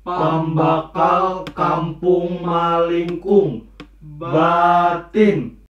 Pambakal kampung malingkung batin.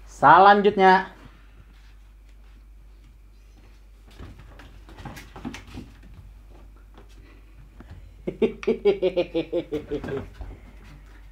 Salanjutnya.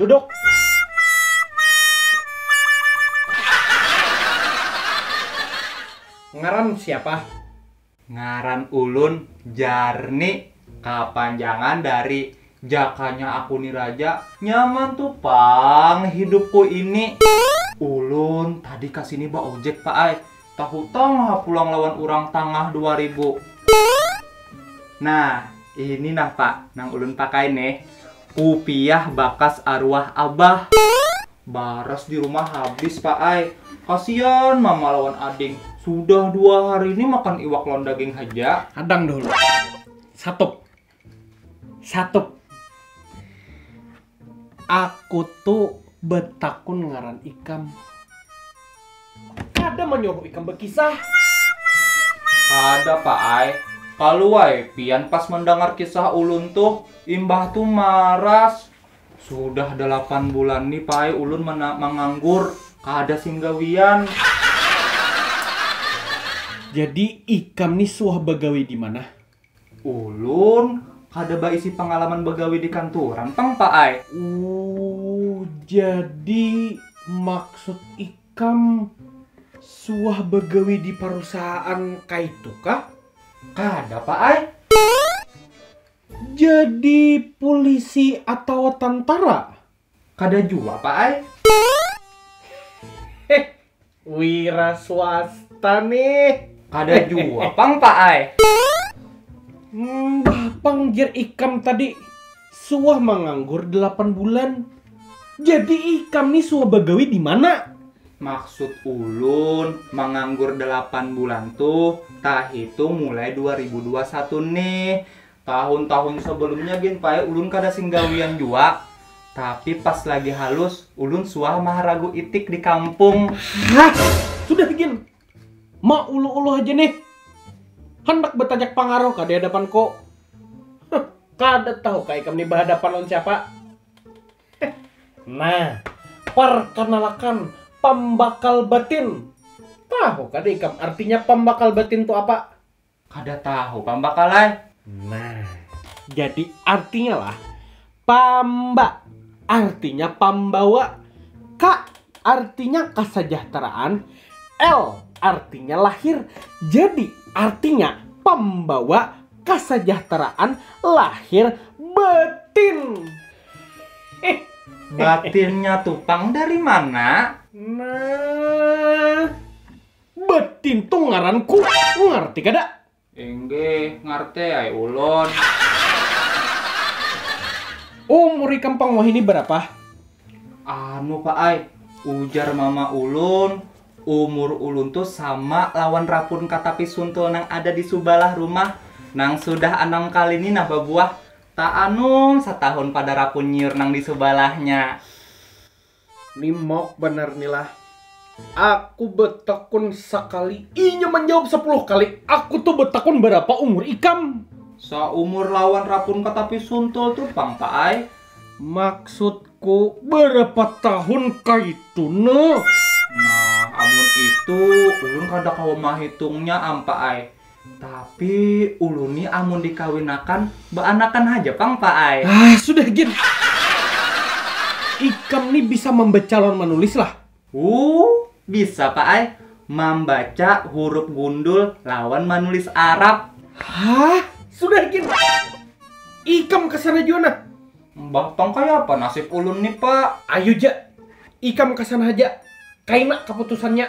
Duduk. Ngaran siapa? Ngaran ulun Jarni. Kapanjangan dari Jakanya Aku Ni Raja. Nyaman tu pang hidupku ini. Ulun tadi ka sini baojek, Pak ai. Tahutang ha pulang lawan urang tangah dua ribu. Nah, ini nah pak, nang ulun pakai nih, kupiah bakas aruah abah. Baras di rumah habis pak ai, kasian mama lawan ading, sudah dua hari ini makan iwak lawan daging haja. Hadang dahulu, satup. Satup. Aku tu betakun ngaran ikam. Kada manyuruh ikam bekisah. Kada pa ai, kalu ai pian pas mendangar kisah ulun tuh, imbah tu maras. Sudah dalapan bulan ni pa ai ulun manganggur, kada sing gawian. Jadi ikam ni suah bagawi dimana? Ulun kada baisi pangalaman bagawi di kanturan pang pak ai. Uuh jadi maksud ikam suah bagawi di parusahaan kaitu kah? Kada pak ai. Jadi pulisi atawa tantara? Kada jua pa ai. Heh wira swasta nih. Kada jua pang pa ai. Mbah pang jar ikam tadi suah manganggur delapan bulan. Jadi ikam nih suah bagawi dimana? Maksud ulun manganggur delapan bulan tuh tahitung mulai dua ribu dua satu nih. Tahun-tahun sebelumnya gin Pai ulun kada sing gawian jua, tapi pas lagi halus ulun suah maharagu itik di kampung. Hah, sudah gin, mauluh-uluh haja nih, handak batajak pangaruh kah di hadapanku? Huh, kada tahu kah ikam nih bahadapan lawan siapa? Heh, nah, parkanalakan pambakal batin, tahu kada ikam artinya pambakal batin tu apa? Kada tahu pang bakal ai. Nah, jadi artinya lah, pamba artinya pambawa, ka artinya kasajahteraan, l artinya lahir. Jadi artinya pambawa kasajahteraan lahir batin. Hih, batinnya tu pang dari mana? Nah, Betin tu ngaran ku, ngarti kada? Inggih, ngarti ai ulun. Umur ikam pang wahini barapa? Anu pak ai, ujar mama ulun, umur ulun tu sama lawan rapun katapi suntul nang ada di subalah rumah, nang sudah anam kali ni nah babuah, taanum satahun pada rapun nyiur nang di subalahnya. Ni mauk banar ni lah. Aku betakun sakali, inya manjawab sapuluh kali. Aku tu betakun barapa umur ikam? Saumur lawan rapun ka tapi suntul tu pang pak ai. Maksudku barapa tahun kaitu noh? Nah amun itu ulun kada kawa mahitungnya am pak ai. Tapi ulun ni amun dikawinakan baanakan haja pang pa ai. Hah sudah gin. Ikam ni bisa mambaca lawan manulis lah? Huh bisa pa ai, mambaca hurup gundul lawan manulis arab. Hah sudah gin. Ikam kasana jua nah. Mbah pang kayapa nasib ulun ni pa. Ayu ja ikam kasana haja, kaina kaputusannya.